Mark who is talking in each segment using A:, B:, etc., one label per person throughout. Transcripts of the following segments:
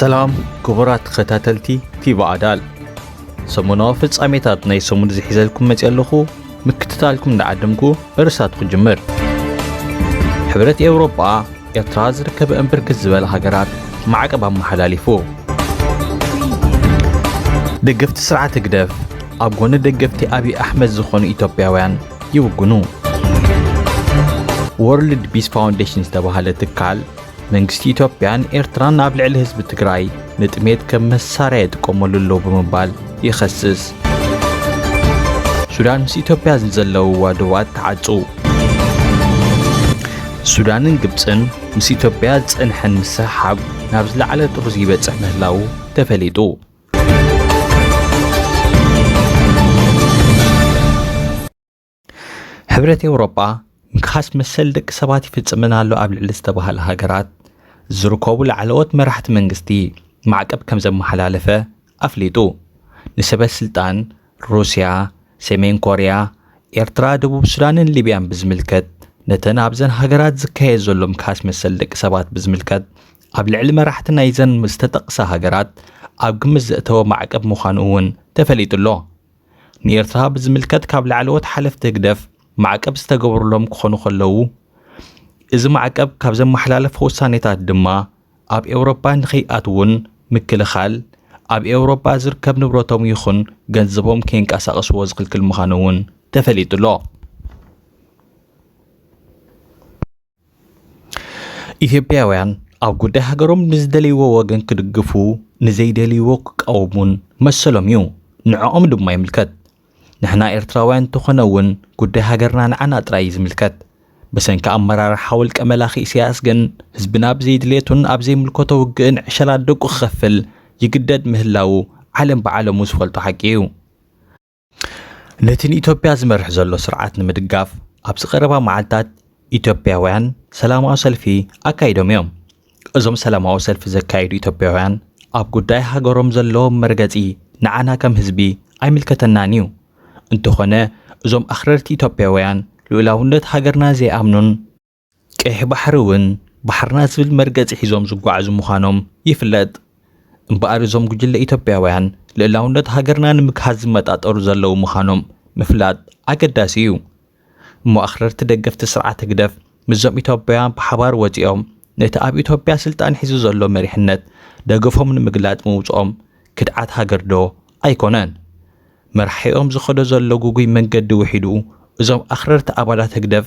A: ሰላም ክቡራት ተኸታተልቲ ቲቪ ኣዳል ሰሙናዊ ፍጻሜታት ናይ ሰሙን ዝሒዘልኩም መፅእ ኣለኹ ምክትታልኩም እንዳዓደምኩ እርሳት ክጅምር ሕብረት ኤውሮጳ ኤርትራ ዝርከበእን ብርክት ዝበለ ሃገራት ማዕቀብ ኣመሓላሊፉ። ደገፍቲ ስርዓት ህግደፍ ኣብ ጎኒ ደገፍቲ ኣብይ ኣሕመድ ዝኾኑ ኢትዮጵያውያን ይውግኑ። ወርልድ ቢስ ፋውንዴሽን ዝተባህለ ትካል መንግስቲ ኢትዮጵያን ኤርትራን ኣብ ልዕሊ ህዝቢ ትግራይ ንጥሜት ከም መሳርያ ይጥቀመሉ ኣሎ ብምባል ይኸስስ። ሱዳን ምስ ኢትዮጵያ ዘለውዋ ዶባት ተዓጹ። ሱዳንን ግብጽን ምስ ኢትዮጵያ ዝጸንሐን ምስሕሓብ ናብ ዝለዓለ ጥርዙ ይበጽሕ ምህላዉ ተፈሊጡ። ሕብረት ኤውሮጳ ምክሓስ መሰል ደቂ ሰባት ይፍጽመን ኣሎ ኣብ ልዕሊ ዝተባህለ ሃገራት ዝርከቡ ላዕለዎት መራሕቲ መንግስቲ ማዕቀብ ከም ዘመሓላለፈ ኣፍሊጡ። ንሰበ ስልጣን ሩስያ፣ ሰሜን ኮርያ፣ ኤርትራ፣ ደቡብ ሱዳንን ሊብያን ብዝምልከት ነተን ኣብዘን ሃገራት ዝካየድ ዘሎ ምክሓስ መሰል ደቂ ሰባት ብዝምልከት ኣብ ልዕሊ መራሕቲ ናይዘን ዝተጠቕሳ ሃገራት ኣብ ግምት ዘእተወ ማዕቀብ ምዃኑ እውን ተፈሊጡ ኣሎ። ንኤርትራ ብዝምልከት ካብ ላዕለዎት ሓለፍቲ ህግደፍ ማዕቀብ ዝተገበሩሎም ክኾኑ ከለዉ እዚ ማዕቀብ ካብ ዘመሓላለፈ ውሳኔታት ድማ ኣብ ኤውሮጳ ንኸይኣትዉን ምክልኻል ኣብ ኤውሮጳ ዝርከብ ንብረቶም ይኹን ገንዘቦም ከይንቀሳቐስዎ ዝኽልክል ምዃኑ እውን ተፈሊጡሎ። ኢትዮጵያውያን ኣብ ጉዳይ ሃገሮም ንዝደልይዎ ወገን ክድግፉ ንዘይደልይዎ ክቃወሙን መሰሎም እዩ፣ ንዕኦም ድማ ይምልከት። ንሕና ኤርትራውያን እንተኾነ እውን ጉዳይ ሃገርና ንዓና ጥራይ እዩ ዝምልከት። ብሰንኪ ኣመራርሓ ውልቀ መላኺ ኢሳያስ ግን ህዝብና ብዘይ ድሌቱን ኣብ ዘይምልከቶ ውግእን ዕሸላት ደቁ ክኸፍል ይግደድ ምህላዉ ዓለም ብዓለሙ ዝፈልጦ ሓቂ እዩ። ነቲ ንኢትዮጵያ ዝመርሕ ዘሎ ስርዓት ንምድጋፍ ኣብዚ ቀረባ መዓልታት ኢትዮጵያውያን ሰላማዊ ሰልፊ ኣካይዶም እዮም። እዞም ሰላማዊ ሰልፊ ዘካይዱ ኢትዮጵያውያን ኣብ ጉዳይ ሃገሮም ዘለዎም መርገጺ ንዓና ከም ህዝቢ ኣይምልከተናን እዩ፣ እንተኾነ እዞም ኣኽረርቲ ኢትዮጵያውያን ልኡላውነት ሃገርና ዘይኣምኑን፣ ቀይሕ ባሕሪ እውን ባሕርና ዝብል መርገፂ ሒዞም ዝጓዓዙ ምዃኖም ይፍለጥ። እምበኣር እዞም ጉጅለ ኢትዮጵያውያን ልእላውነት ሃገርና ንምግሃስ ዝመጣጠሩ ዘለዉ ምዃኖም ምፍላጥ ኣገዳሲ እዩ። እሞ ኣኽረርቲ ደገፍቲ ስርዓት ህግደፍ ምስዞም ኢትዮጵያውያን ብሓባር ወፂኦም ነቲ ኣብ ኢትዮጵያ ስልጣን ሒዙ ዘሎ መሪሕነት ደገፎም ንምግላፅ ምውፅኦም ክድዓት ሃገር ዶ ኣይኮነን? መራሒኦም ዝኸዶ ዘሎ ጉጉይ መንገዲ ውሒዱ እዞም ኣኽረርቲ ኣባላት ህግደፍ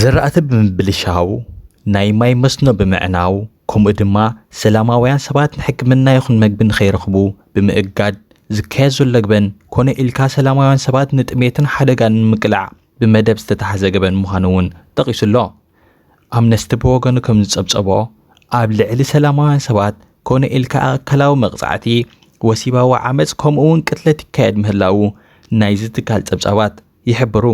A: ዝራእቲ ብምብልሻው፣ ናይ ማይ መስኖ ብምዕናው ከምኡ ድማ ሰላማውያን ሰባት ንሕክምና ይኹን መግቢ ንኸይረኽቡ ብምእጋድ ዝካየድ ዘሎ ገበን ኮነ ኢልካ ሰላማውያን ሰባት ንጥሜትን ሓደጋን ንምቅላዕ ብመደብ ዝተታሕዘ ገበን ምዃኑ እውን ጠቒሱ ኣሎ። ኣምነስቲ ብወገኑ ከም ዝጸብጸቦ፣ ኣብ ልዕሊ ሰላማውያን ሰባት ኮነ ኢልካ ኣካላዊ መቕጻዕቲ፣ ወሲባዊ ዓመጽ ከምኡ'ውን ቅትለት ይካየድ ምህላዉ ናይዚ ትካል ጸብጻባት ይሕብሩ።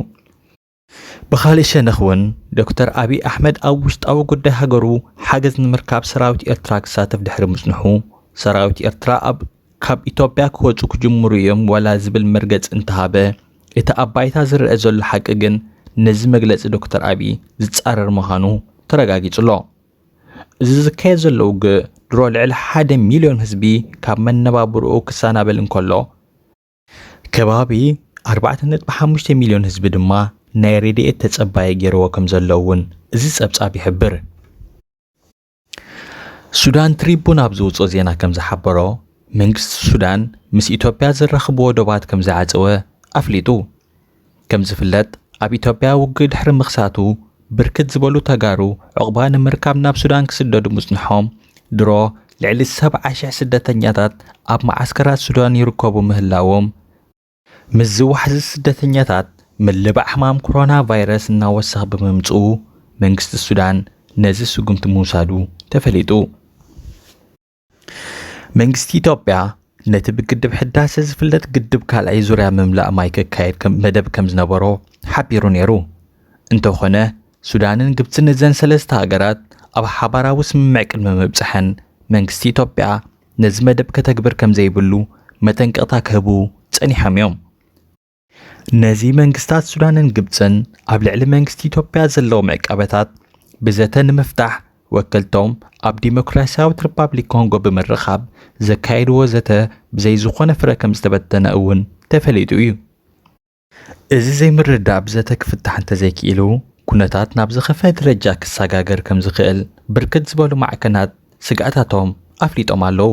A: ብኻሊእ ሸነኽ ውን ዶክተር ኣብይ ኣሕመድ ኣብ ውሽጣዊ ጉዳይ ሃገሩ ሓገዝ ንምርካብ ሰራዊት ኤርትራ ክሳተፍ ድሕሪ ምጽንሑ ሰራዊት ኤርትራ ኣብ ካብ ኢትዮጵያ ክወጹ ክጅምሩ ኢዮም ዋላ ዝብል መርገጺ እንተሃበ እቲ ኣብ ባይታ ዝረኣ ዘሎ ሓቂ ግን ነዚ መግለጺ ዶክተር ኣብይ ዝጻረር ምዃኑ ተረጋጊጹ'ሎ። እዚ ዝካየድ ዘሎ ውግእ ድሮ ልዕሊ ሓደ ሚልዮን ህዝቢ ካብ መነባብሮኡ ክሰናበል እንከሎ፣ ከባቢ ኣርባዕተ ነጥቢ ሓሙሽተ ሚልዮን ህዝቢ ድማ ናይ ረድኤት ተጸባዪ ገይርዎ ከም ዘሎ እውን እዚ ጸብጻብ ይሕብር። ሱዳን ትሪቡን ኣብ ዝውጽኦ ዜና ከም ዝሓበሮ መንግስቲ ሱዳን ምስ ኢትዮጵያ ዘራኽብዎ ዶባት ከም ዝዓጸወ ኣፍሊጡ። ከም ዝፍለጥ ኣብ ኢትዮጵያ ውግእ ድሕሪ ምኽሳቱ ብርክት ዝበሉ ተጋሩ ዕቑባ ንምርካብ ናብ ሱዳን ክስደዱ ምጽንሖም ድሮ ልዕሊ ሰብዓ ሽሕ ስደተኛታት ኣብ መዓስከራት ሱዳን ይርከቡ ምህላዎም ምስዚ ዋሕዚ ስደተኛታት ምልባዕ ሕማም ኮሮና ቫይረስ እናወሰኽ ብምምጽኡ መንግስቲ ሱዳን ነዚ ስጉምቲ ምውሳዱ ተፈሊጡ። መንግስቲ ኢትዮጵያ ነቲ ብግድብ ሕዳሰ ዝፍለጥ ግድብ ካልኣይ ዙርያ ምምላእ ማይ ክካየድ ከም መደብ ከም ዝነበሮ ሓቢሩ ነይሩ። እንተኾነ ሱዳንን ግብፅን እዘን ሰለስተ ሃገራት ኣብ ሓባራዊ ስምምዕ ቅድሚ ምብፀሐን መንግስቲ ኢትዮጵያ ነዚ መደብ ከተግብር ከም ዘይብሉ መጠንቀቕታ ክህቡ ፀኒሖም እዮም። ነዚ መንግስታት ሱዳንን ግብፅን ኣብ ልዕሊ መንግስቲ ኢትዮጵያ ዘለዎም ዕቀበታት ብዘተ ንምፍታሕ ወከልቶም ኣብ ዲሞክራሲያዊት ሪፓብሊክ ኮንጎ ብምርኻብ ዘካየድዎ ዘተ ብዘይ ዝኾነ ፍረ ከም ዝተበተነ እውን ተፈሊጡ እዩ። እዚ ዘይምርድዳእ ብዘተ ክፍታሕ እንተዘይክኢሉ ኩነታት ናብ ዝኸፈ ደረጃ ክሰጋገር ከም ዝኽእል ብርክት ዝበሉ ማዕከናት ስግኣታቶም ኣፍሊጦም ኣለዉ።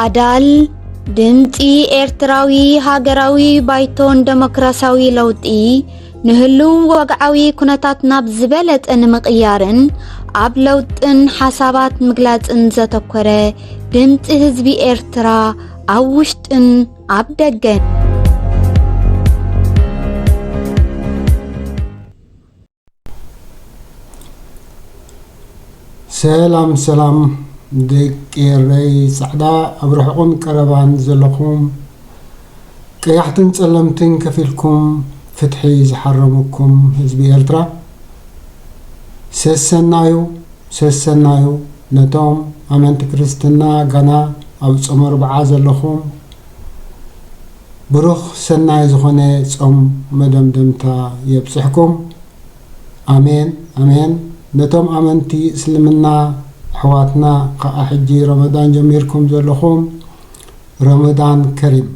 B: ኣዳል ድምፂ ኤርትራዊ ሃገራዊ ባይቶን ደሞክራሲያዊ ለውጢ ንህልው ወግዓዊ ኩነታት ናብ ዝበለፀ ንምቕያርን ኣብ ለውጥን ሓሳባት ምግላፅን ዘተኮረ ድምፂ ህዝቢ ኤርትራ ኣብ ውሽጥን ኣብ ደገን
C: ሰላም ሰላም ደቂ ኤረይ ጻዕዳ ኣብ ርሑቕን ቀረባን ዘለኹም ቀያሕትን ጸለምትን ከፊልኩም ፍትሒ ዝሓረመኩም ህዝቢ ኤርትራ ሰሰናዩ ሰሰናዩ ነቶም ኣመንቲ ክርስትና ጋና ኣብ ጾመ ርብዓ ዘለኹም ብሩኽ ሰናይ ዝኾነ ጾም መደምደምታ የብጽሕኩም ኣሜን ኣሜን ነቶም ኣመንቲ እስልምና ኣሕዋትና ከኣ ሕጂ ረመዳን ጀሚርኩም ዘለኹም ረመዳን ከሪም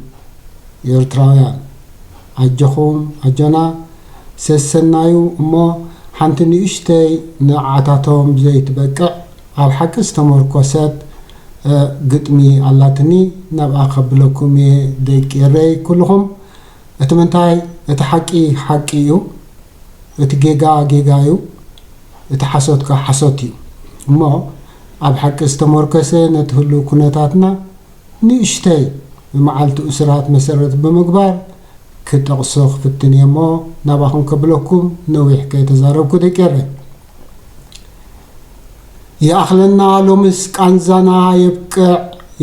C: ኤርትራውያን ኣጆኹም ኣጆና ሰሰናዩ እሞ ሓንቲ ንእሽተይ ንዓታቶም ዘይትበቅዕ ኣብ ሓቂ ዝተሞርኮሰት ግጥሚ ኣላትኒ ናብኣ ከብለኩም እየ ደቂ ኤረይ ኩሉኹም እቲ ምንታይ እቲ ሓቂ ሓቂ እዩ እቲ ጌጋ ጌጋ እዩ እቲ ሓሶት ከኣ ሓሶት እዩ እሞ ኣብ ሓቂ ዝተሞርከሰ ነቲ ህሉው ኩነታትና ንእሽተይ መዓልቲ እሱራት መሰረት ብምግባር ክጠቕሶ ክፍትን እየ እሞ ናባኹም ከብለኩም ነዊሕ ከይተዛረብኩ ደቂ ኤረይ ይኣኽለና ሎምስ ቃንዛና የብቅዕ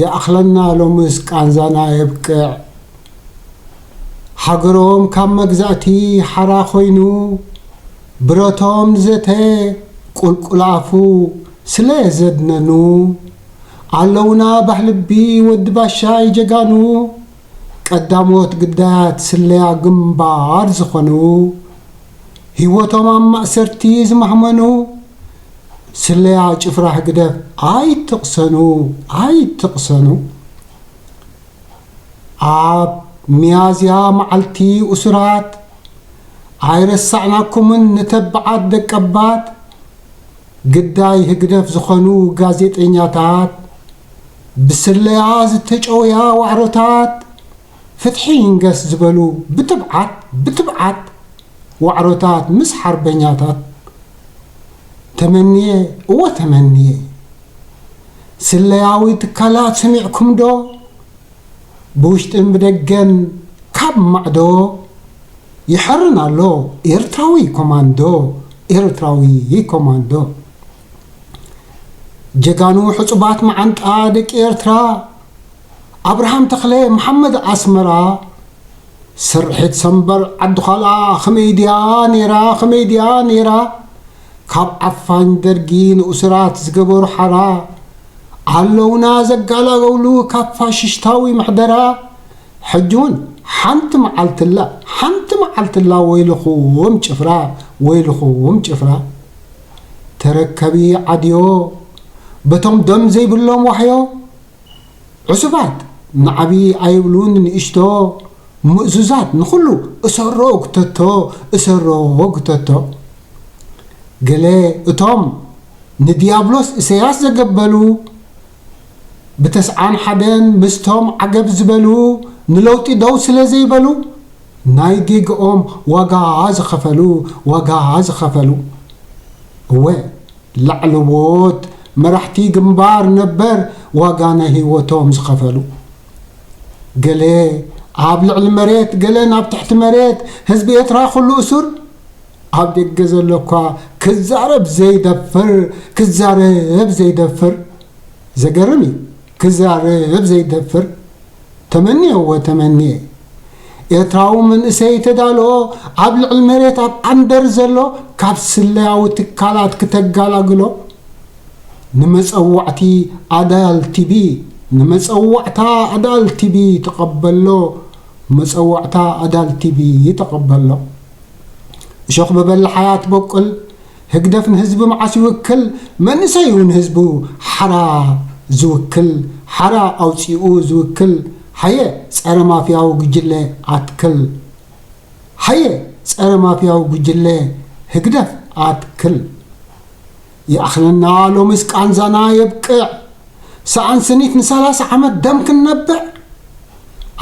C: ይኣኽለና ሎምስ ቃንዛና የብቅዕ ሃገሮም ካብ መግዛእቲ ሓራ ኮይኑ ብረቶም ዘተ ቁልቁል ኣፉ ስለ ዘድነኑ ኣለውና ባህልቢ ወዲ ባሻይ ጀጋኑ ቀዳሞት ግዳያት ስለያ ግንባር ዝኾኑ ሂወቶም ኣብ ማእሰርቲ ዝማህመኑ ስለያ ጭፍራ ህግደፍ ኣይትቅሰኑ ኣይትቅሰኑ ኣብ ሚያዝያ ማዓልቲ ኡሱራት ኣይረሳዕናኩምን ንተባዓት ደቀባት ግዳይ ህግደፍ ዝኮኑ ጋዜጠኛታት ብስለያ ዝተጨውያ ዋዕሮታት ፍትሒ ይንገስ ዝበሉ ብትብዓት ብትብዓት ዋዕሮታት ምስ ሓርበኛታት ተመንየ እወ ተመንየ ስለያዊ ትካላት ሰሚዕኩም ዶ ብውሽጥን ብደገን ካብ ማዕዶ ይሐርን ኣሎ ኤርትራዊ ኮማንዶ ኤርትራዊ ኮማንዶ ጀጋኑ ሕጹባት መዓንጣ ደቂ ኤርትራ ኣብርሃም ተኽለ መሓመድ ኣስመራ ስርሒት ሰምበር ዓዲ ዃልኣ ኽመይ ድያ ኔራ ኽመይ ድያ ኔራ ካብ ዓፋኝ ደርጊ ንኡስራት ዝገበሩ ሓራ ኣለውና ዘጋላገሉ ካብ ፋሽሽታዊ ምሕደራ ሕጂ ውን ሓንቲ መዓልቲላ ሓንቲ መዓልቲላ ወይልኹም ጭፍራ ወይልኹም ጭፍራ ተረከቢ ዓድዮ በቶም ደም ዘይብሎም ዋሕዮ ዑሱባት ንዓቢ ኣይብሉን ንእሽቶ ምእዙዛት ንኹሉ እሰሮ ጉተቶ እሰሮ ጉተቶ ገለ እቶም ንድያብሎስ እሰያስ ዘገበሉ ብተስዓን ሓደን ምስቶም ዓገብ ዝበሉ ንለውጢ ደው ስለ ዘይበሉ ናይ ጌግኦም ዋጋ ዝኸፈሉ ዋጋ ዝኸፈሉ እወ ላዕለዎት መራሕቲ ግንባር ነበር ዋጋ ናይ ህይወቶም ዝኸፈሉ ገለ ኣብ ልዕሊ መሬት ገለን ኣብ ትሕቲ መሬት ህዝቢ ኤርትራ ኩሉ እሱር ኣብ ደገ ዘሎ እኳ ክዛረብ ዘይደፍር ክዛረብ ዘይደፍር ዘገርም እዩ። ክዛረብ ዘይደፍር ተመንዮ እወ ተመንየ ኤርትራዊ መንእሰይ ተዳልኦ ኣብ ልዕሊ መሬት ኣብ ዓንደር ዘሎ ካብ ስለያዊ ትካላት ክተጋላግሎ ንመጸዋዕቲ ኣዳል ቲቢ ንመጸዋዕታ ኣዳል ቲቢ ተቐበሎ መጸዋዕታ ኣዳል ቲቢ ተቐበሎ እሾኽ በበላሓያ ትበቁል ህግደፍ ንህዝቢ መዓስ ይውክል መንእሰይ ዩ ንህዝቡ ሓራ ዝውክል ሓራ ኣውጺኡ ዝውክል ሃየ ጸረ ማፍያዊ ጉጅለ ኣትክል ሃየ ጸረ ማፍያዊ ጉጅለ ህግደፍ ኣትክል ይኣኽለና ሎምስ ቃንዛና የብቅዕ ሰኣን ስኒት ንሳላሳ ዓመት ደም ክንነብዕ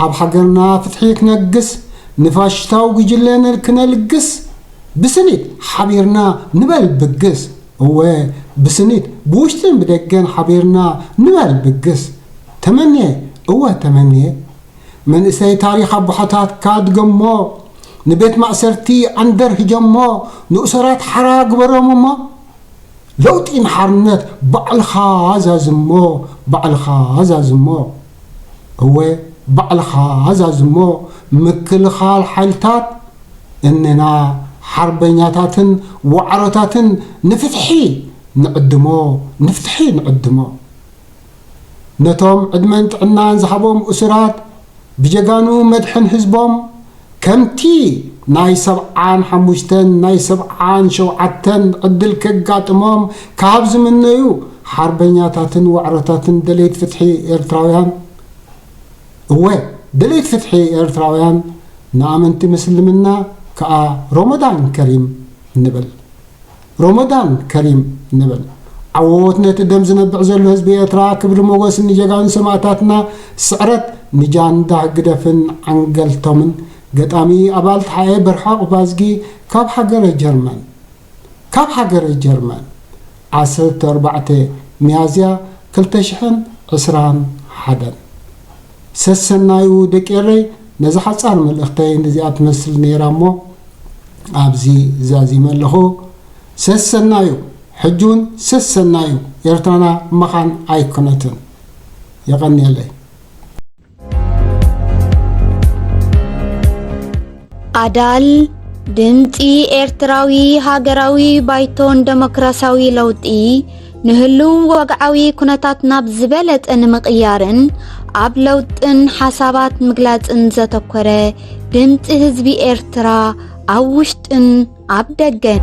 C: ኣብ ሃገርና ፍትሒ ክነግስ ንፋሽሽታዊ ጉጅለ ነልክነ ልግስ ብስኒት ሓቢርና ንበል ብግስ እወ ብስኒት ብውሽጥን ብደገን ሓቢርና ንበል ብግስ ተመንየ እወ ተመንየ መንእሰይ ታሪኽ ኣቦሓታትካ ድገሞ ንቤት ማእሰርቲ ዓንደር ህጀሞ ንእሰራት ሓራ ግበሮም እሞ ለውጢ ንሓርነት ባዕልኻ ዛዝሞ ባዕልኻ ዛዝሞ እወ ባዕልኻ ኣዛዚ እሞ ምክልኻል ሓይልታት እነና ሓርበኛታትን ዋዕሮታትን ንፍትሒ ንዕድሞ ንፍትሒ ንዕድሞ ነቶም ዕድመን ጥዕናን ዝሃቦም እሱራት ብጀጋኑ መድሕን ህዝቦም ከምቲ ናይ ሰብዓን ሓሙሽተን ናይ ሰብዓን ሸውዓተን ዕድል ከጋጥሞም ካብ ዝምነዩ ሓርበኛታትን ዋዕሮታትን ደለይት ፍትሒ ኤርትራውያን እወ ደለይት ፍትሒ ኤርትራውያን ንኣመንቲ ምስልምና ከኣ ሮሞዳን ከሪም ንብል። ሮሞዳን ከሪም ንብል። ዓወዎት ነቲ ደም ዝነብዕ ዘሎ ህዝቢ ኤርትራ ክብሪ ሞጎስ ንጀጋኑ ሰማእታትና ስዕረት ንጃንዳ ህግደፍን ዓንገልቶምን ገጣሚ ኣባል ተሓኤ በርሀ ዑቅባዝጊ ካብ ሃገረ ጀርመን ካብ ሃገረ ጀርመን ዓሰርተ ኣርባዕተ ሚያዝያ ክልተ ሽሕን ዕስራን ሓደን። ሰሰናዩ ደቂ ኤረይ ነዛ ሓጻር መልእኽተይ ንዚኣ ትመስል ኔራ እሞ ኣብዚ ዛዚመ ኣለኹ ሰሰናዩ ሕጂ ውን ሰሰናዩ ኤርትራና መኻን ኣይኮነትን የቐንየለይ።
B: ኣዳል ድምጺ ኤርትራዊ ሃገራዊ ባይቶን ደሞክራስያዊ ለውጢ ንህሉው ወግዓዊ ኩነታት ናብ ዝበለጸ ንምቕያርን ኣብ ለውጥን ሓሳባት ምግላጽን ዘተኮረ ድምጺ ህዝቢ ኤርትራ ኣብ ውሽጥን ኣብ ደገን